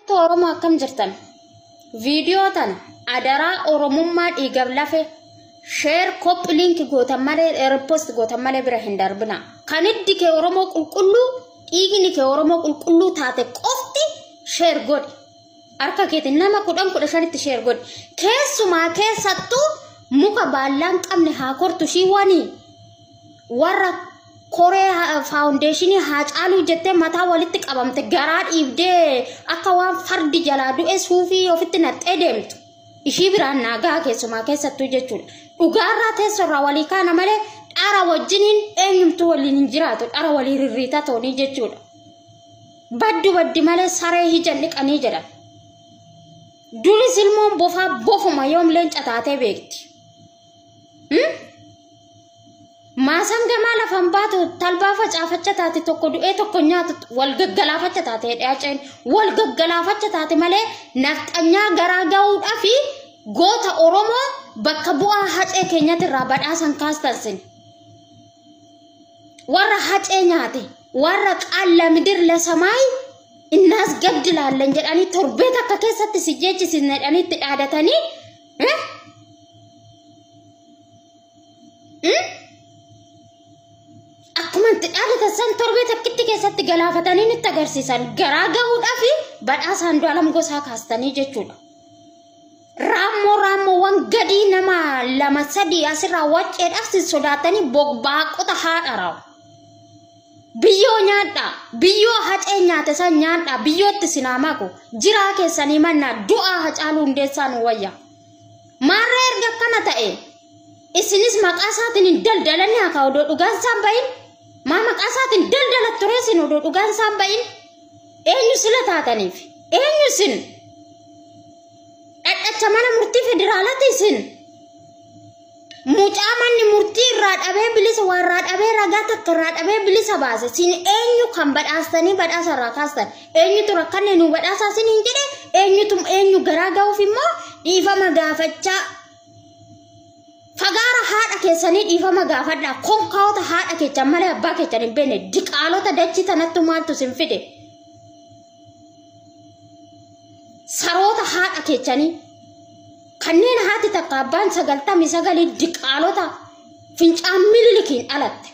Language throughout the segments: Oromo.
Ummata Oromoo akkam jirtan? Viidiyoo tana adaraa Oromummaa dhiigaf lafe sheer koppi liinki gootan malee ripost gootan malee bira hin darbina. Kan hiddi kee Oromoo qulqulluu dhiigni kee Oromoo qulqulluu taate qofti sheer godhi. Harka keetiin nama kudhan kudha shanitti sheer godhi. Keessumaa keessattuu muka baallaan qabne haa kortu shii wanii. warra koree ha- faawundeeshinii haa caaluu jettee mataa walitti qabamte garaa dhiibdee akka waan fardi jalaa du'e suufii ofitti naqxee deemtu ishii biraan naagaa keessumaa keessattuu jechuudha dhugaarraa teessorraa walii kaana malee dhara wajjiniin eenyumtuu waliin hin jiraatu dhara walii rirriitaa toonii jechuudha baddu baddi malee saree hijan dhiqanii jedhan duris ilmoon bofaa bofuma yoom leenca taatee beekti Maasaan gamaa lafaan baatu talbaa facaafacha taate tokko du'ee tokko nyaatu wal gaggalaafacha taate hidhaaceen wal gaggalaafacha taate malee nafxanyaa garaa ga'uudhaa fi goota Oromoo bakka bu'aa hacee keenyatti irraa badhaasan kaastansin. Warra hacee nyaate warra qaalla midir lasamaayi innaas gaddi laallan jedhanii torbee takka keessatti si jeechisiisne jedhanii itti dhaadatanii Eh? Hmm? Akkuma itti dhaadatan san torbee takkitti keessatti galaafatanii nutti agarsiisan garaa gahuudhaa fi badhaasa Andu'aalam Gosaa kaastanii jechuudha. Raammoo raammoowwan gadii nama lama sadii asirraa wacceedhaaf sin sodaatanii bogbaaqota haadha raamu. Biyyoo nyaadhaa, biyyoo hacee nyaate san nyaadhaa, biyyootti sinaa maku, jiraa keessanii mannaa du'aa hacaaluu hundeessaa nu wayya. Maarree erga akkana ta'e, isinis maqaa isaatiin hin daldalanne hakaa odoo dhugaan isaan bahin, maa maqaa isaatiin daldalat ture isin odoo dhugaan isaan bahin, eenyu sila taataniif, eenyu isin, dhadhacha mana murtii federaalati isin, Mucaa manni murtii irraa dhabee bilisa waa irraa dhabee ragaa takka irraa dhabee bilisa baase sin eenyu kan badhaastanii badhaasa irraa kaastan eenyutu rakkanne nu badhaasaa sin hin jedhe eenyutu eenyu garaa ga'uuf immoo dhiifama gaafachaa fagaara haadha keessanii dhiifama gaafadhaa konkaa'ota haadha keessan malee abbaa keessan hin beekne diqaalota dachii tanattu maaltu sin fide saroota haadha keessanii Kanneen haati takka abbaan sagaltamii sagaliin diqaalota fincaan mililikiin dhalatte.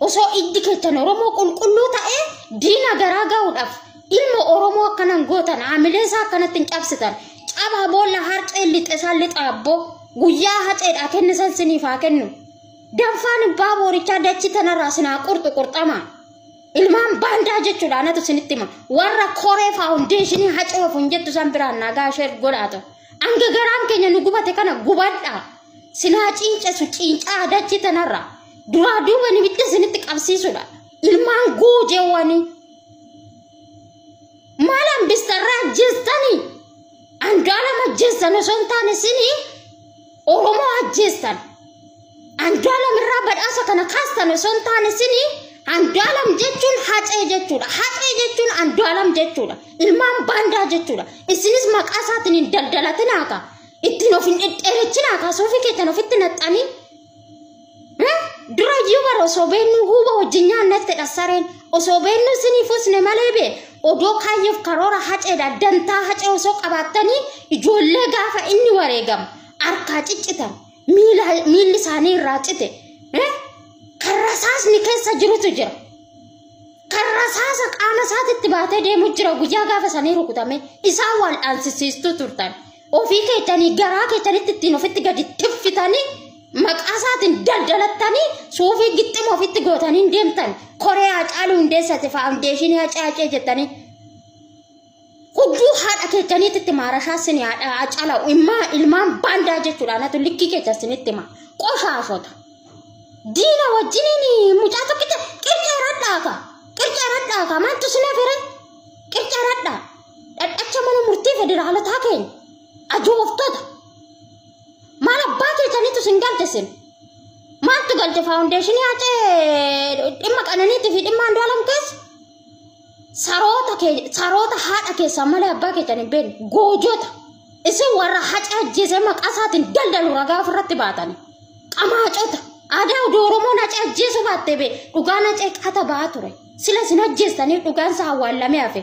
Osoo iddi keessan Oromoo qulqulluu ta'ee diina garaa ga'uudhaaf ilma Oromoo akkanan gootan haamilee isaa akkanatti hin cabsitan. Cabaa boolla harceen lixe isaan lixa abboo guyyaa haceedhaa kenni san siniif haa kennu. Danfaan abbaa boorichaa dachi tanarraa sinaa qurxu qurxamaa. Ilmaan baandaa jechuudha anatu isinitti hima. Warra koree faawundeeshinii hacoof hin jettu san biraan nagaa ishee godhaa ta'u. Hanga garaan keenya nu gubate kana gubadhaa. Sinaa ciincesu ciincaa dachii tanarra. Duraa duuba nimitti isinitti qabsiisudha. Ilmaan guujeewwanii. maal hambistarraa ajjeestanii andu'aalam ajjeestan osoo hin taane isinii oromoo ajjeestan andu'aalam irraa badhaasa kana kaastan osoo hin taane isinii andu'aalam jechuun hacee jechuudha hacee jechuun andu'aalam jechuudha ilmaan baandaa jechuudha isinis maqaa isaatiin hin daldalatinaa kaa ittiin of hin dhedheerechinaaka suufii keessan ofitti naxxanii Dura iyyuu bara osoo beennuu huuba wajjin nyaannetti dhassareen osoo beennuu isiniif usne malee bee odoo kaayyoof karoora haceedha dantaa hacee osoo qabaattanii ijoollee gaafa inni wareegamu harkaa ciccitan miilli isaanii irraa cite kan rasaasni keessa jirutu jira. Kan rasaasa qaama isaatitti baatee deemu jira guyyaa gaafa sanii rukutame isaan wal dhaansisiistuu turtan. ofii keessanii garaa keessanitti ittiin ofitti gadi tiffitanii maqaa isaatiin daldalattanii suufii gixxima ofitti gootanii deemtan koree haacaaluu hundeessate faawundeeshinii hacaacee jettanii udduu haadha keessaniititti maarashaa sini haadha haacala immaa ilmaan baandaa jechuudha anatu likkii keessa sinitti hima qoshaashota diina wajjiniin mucaa tokkicha qircaa radhaafa qircaa radhaafa maaltu sinaaf hire qircaa radhaa dhadhacha mana murtii federaalotaa keenya ajooftota maal abbaa keessanitu sin galte sin maaltu galte faawundeeshinii hacee dhimma qananiitii fi dhimma andu'aalam keessa saroota kee- saroota haadha keessaa malee abbaa keessan hin beekne goojota isin warra haca ajjeesee maqaa isaatiin daldalu ragaa ofirratti baatan qamaacota aadaa oduu oromoon haca ajjeesuu baattee bee dhugaan hacee qata ba'aa ture sila isin ajjeestaniif dhugaan isaa awwaallamee hafe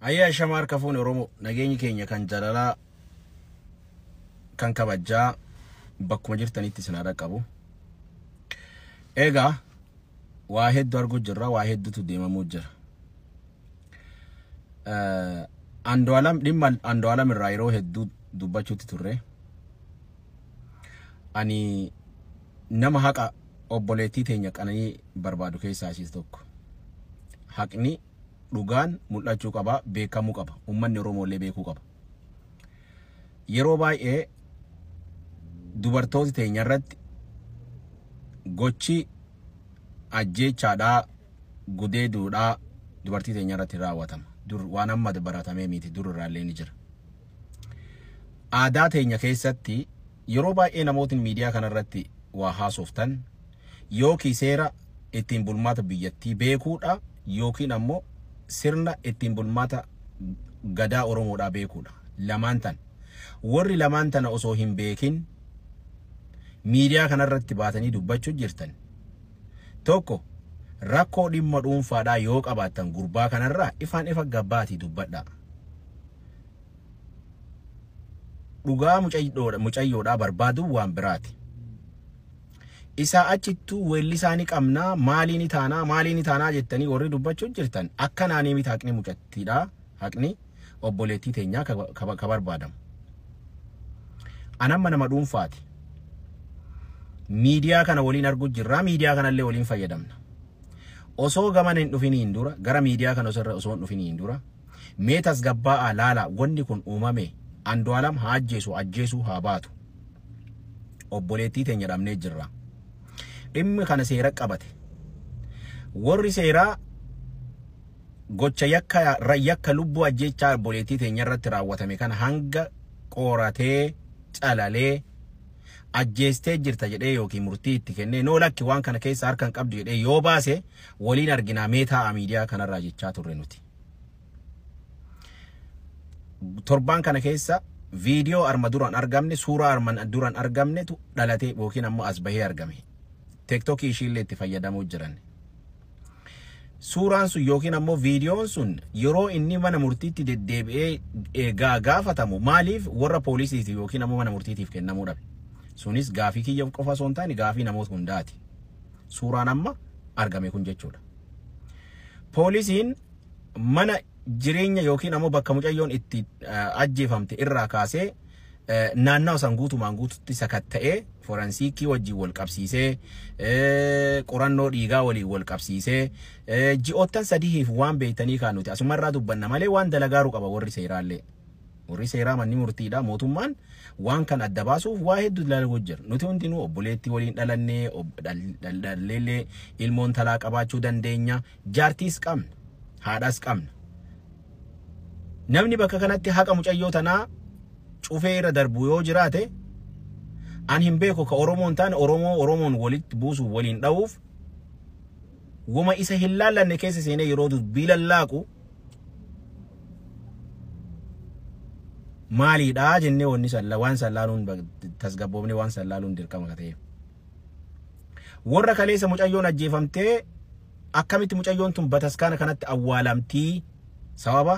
Ayyee ashama harka fuune Oromoo nageenyi keenya kan jalalaa kan kabajjaa bakkuma jirtanitti isin haa dhaqqabu. Egaa waa hedduu arguu jirra waa hedduutu deemamuu jira. Andu'aalam dhimma Andu'aalam irraa yeroo hedduu dubbachuutti turre. Ani nama haqa obboleettii teenya qananii barbaadu keessaa ishee tokko. Haqni dhugaan mul'achuu qaba, beekamuu qaba. Uummanni Oromoo illee beekuu qaba. Yeroo baay'ee dubartooti teenya irratti gochi ajjeechaadhaa, gudeeduudhaa dubartii teenya irratti raawwatama. Dur waan amma baratamee miti dur irraa illee ni jira. Aadaa teenya keessatti Yeroo baay'ee namootni miidiyaa kana irratti waa haasoftan yookii seera ittiin bulmaata biyyattii beekuudha yookiin ammoo sirna ittiin bulmaata Gadaa Oromoodhaa beekuudha. Lamaan tana. Warri lamaan tana osoo hin beekin miidiyaa kana irratti baatanii dubbachuu jirtan tokko rakkoo dhimma dhuunfaadhaa yoo qabaattan gurbaa kanarraa ifaan ifa gabbaatii dubbadhaa. dhugaa mucayyoodha mucayyoodhaa barbaaduu waan biraati. Isaa achittuu weellisaa ni qabnaa maalii ni taanaa maalii ni taanaa jettanii warri dubbachuu jirtan akkanaanii miti haqni mucattiidhaa haqni obboleettii teenyaa ka, ka, ka barbaadamu. Anamma nama dhuunfaati. Miidiyaa kana waliin arguu jirraa miidiyaa kanallee waliin fayyadamna. Osoo gaman hin dhufiniin dura gara miidiyaa kana osoo irra osoo hin dhufiniin dura Mee tasgabbaa'aa laalaa wanni kun uumame Andu'aalam haa ajjeesu ajjeesuu haa baatu obboleettii teenya dhabnee jirra. Dhimmi kana seera qabate. Warri seeraa gocha yakka yakka lubbuu ajjeechaa obboleettii teenya irratti raawwatame kana hanga qoratee calalee ajjeestee jirta jedhee yookiin murtii itti kennee noo lakki waan kana keessa harka hin qabdu jedhee yoo baase waliin arginaa mee taa'a miidiyaa kanarraa jechaa turre nuti. Torbaan kana keessa viidiyoo arma duraan argamne suuraa arman duraan argamnetu dhalatee yookiin ammoo as bahee argame. Teektokii ishiillee itti fayyadamuu jiran. Suuraan sun yookiin ammoo viidiyoon sun yeroo inni mana murtiitti deddeebi'ee eegaa gaafatamu maaliif warra poolisiitiif yookiin ammoo mana murtiitiif kennamuu dhabe. Sunis gaafii kiyya qofa osoo hin taane gaafii namoota hundaati. Suuraan amma argame kun jechuudha. Poolisiin mana jireenya yookiin ammoo bakka mucayyoon itti ajjeefamte irraa kaasee naannawa san guutumaan guututti sakatta'ee foransiikii wajjin wal qabsiisee qorannoo dhiigaa waliin wal qabsiisee ji'oottan sadihiif waan beektanii kaan nuti asumarraa dubbanna malee waan dalagaaru qaba warri seeraallee. Warri seeraa manni murtiidha mootummaan waan kan adda baasuuf waa hedduu dalaguutu jira. Nuti hundinuu obboleettii waliin dhalannee ob- dhal- dhal- dhalleellee ilmoon talaa qabaachuu dandeenya. Jaartiis qabna. Haadhaas qabna. Namni bakka kanatti haqa mucayyoo tanaa cufee irra darbu yoo jiraate an hin beeku ka Oromoon taane Oromoo Oromoon walitti buusuuf waliin dha'uuf woma isa hin laallanne keessa seenee yeroo dubbii lallaaqu maaliidha jennee wanni sallaa waan sallaaluun tasgabboofne waan sallaaluun dirqama ka ta'eef. Warra kaleessa mucayyoon ajjeefamtee akkamitti mucayyoon tun bataskaana kanatti awwaalamtii sababa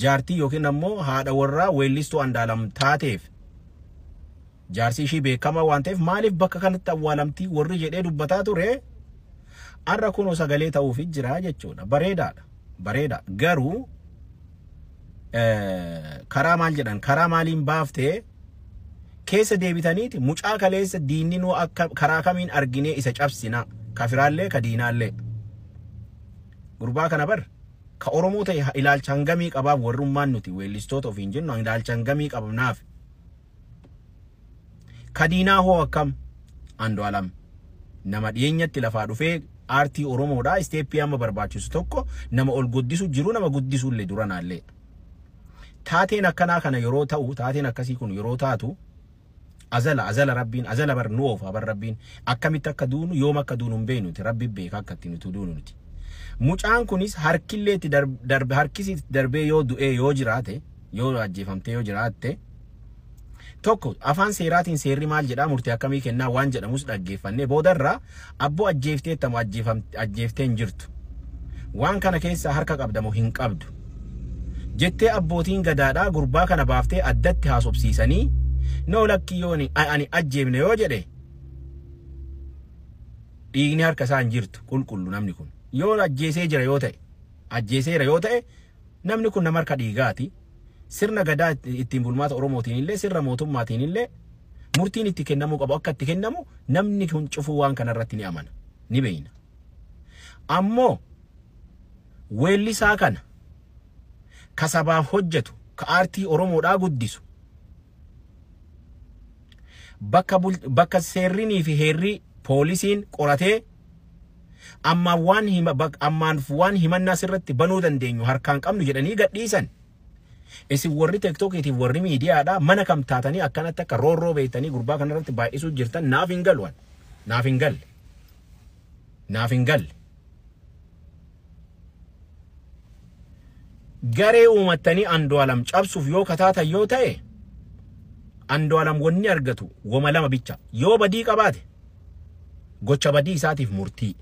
jaartii yookiin ammoo haadha warraa weellistuu andaalam taateef Jaarsi ishii beekamaa waan ta'eef maaliif bakka kanatti awwaalamti warri jedhee dubbataa ture har'a kunoo sagalee ta'uuf jira jechuudha. Bareedaadha. Bareeda. Garuu karaa maal jedhan karaa maaliin baaftee keessa deebitaniiti mucaa kaleessa diinni nuu akka karaa kamiin arginee isa cabsina kafiraallee ka diinaallee gurbaa kana bar ka oromoo ta'e ilaalcha hangamii qabaaf warrummaan nuti weellistoota ofiin jennu ilaalcha hangamii qabnaaf Kadiinaa hoo akkam? Andu'alam nama dhiyeenyatti lafaa dhufee aartii Oromoodhaa isteeppii amma barbaachisu tokko nama ol guddisu jiru nama guddisu illee duranaallee. Taateen akkanaa kana yeroo ta'u taateen akkasii kun yeroo taatu azala azala rabbiin azala bar nu oofa bar rabbiin akkamitti akka duunu yoom akka duunu hin beeknu nuti rabbi beeka akka itti nuti duunu nuti. Mucaan kunis harkillee itti darbe harkisi itti darbee yoo du'ee yoo jiraate yoo ajjeefamtee yoo jiraatte tokko afaan seeraatiin seerri maal jedhaa murtii akkamii kennaa waan jedhamus dhaggeeffannee boodarraa abboo ajjeefteetta moo ajjeefam- ajjeeftee hin jirtu waan kana keessaa harka qabda moo hin qabdu jettee abbootiin gadaadhaa gurbaa kana baaftee addatti haasofsiisanii noo lakkii yoo ani ani ajjeefne yoo jedhe dhiigni harka isaa hin jirtu qulqullu namni kun yoo ajjeesee jira yoo ta'e ajjeeseera yoo ta'e Namni kun nama harka dhiigaati. Sirna Gadaa ittiin bulmaata Oromootiin illee sirna mootummaatiin illee murtiin itti kennamuu qabu akka itti kennamu namni kun cufuu waan kana irratti ni amana. Ni beeyna. Ammoo weellisaa kana ka sabaaf hojjetu ka aartii Oromoodhaa guddisu bakka, bul, bakka seerrinii fi heerrii poolisiin qoratee Ammaan waan hima bak ammaan waan himannaa sirratti banuu dandeenyu harkaan qabnu jedhanii gadhiisan. Isin warri tektokiitiif warri miidiyaadha mana kam taatanii akkanatti akka roorroo beektanii gurbaa kanarratti baay'isuu jirtan naaf hin galu an. Naaf hin galle. Naaf hin galle. Garee uumattanii Andu'alam cabsuuf yoo kataatan yoo ta'e Andu'alam wanni argatu woma lama bicha. Yoo badii qabaate gocha badii isaatiif murtii.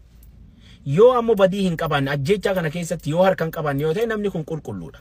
Yoo ammoo badii hin qabaanne ajjeechaa kana keessatti yoo harka hin qabaanne yoo ta'e namni kun qulqulluudha.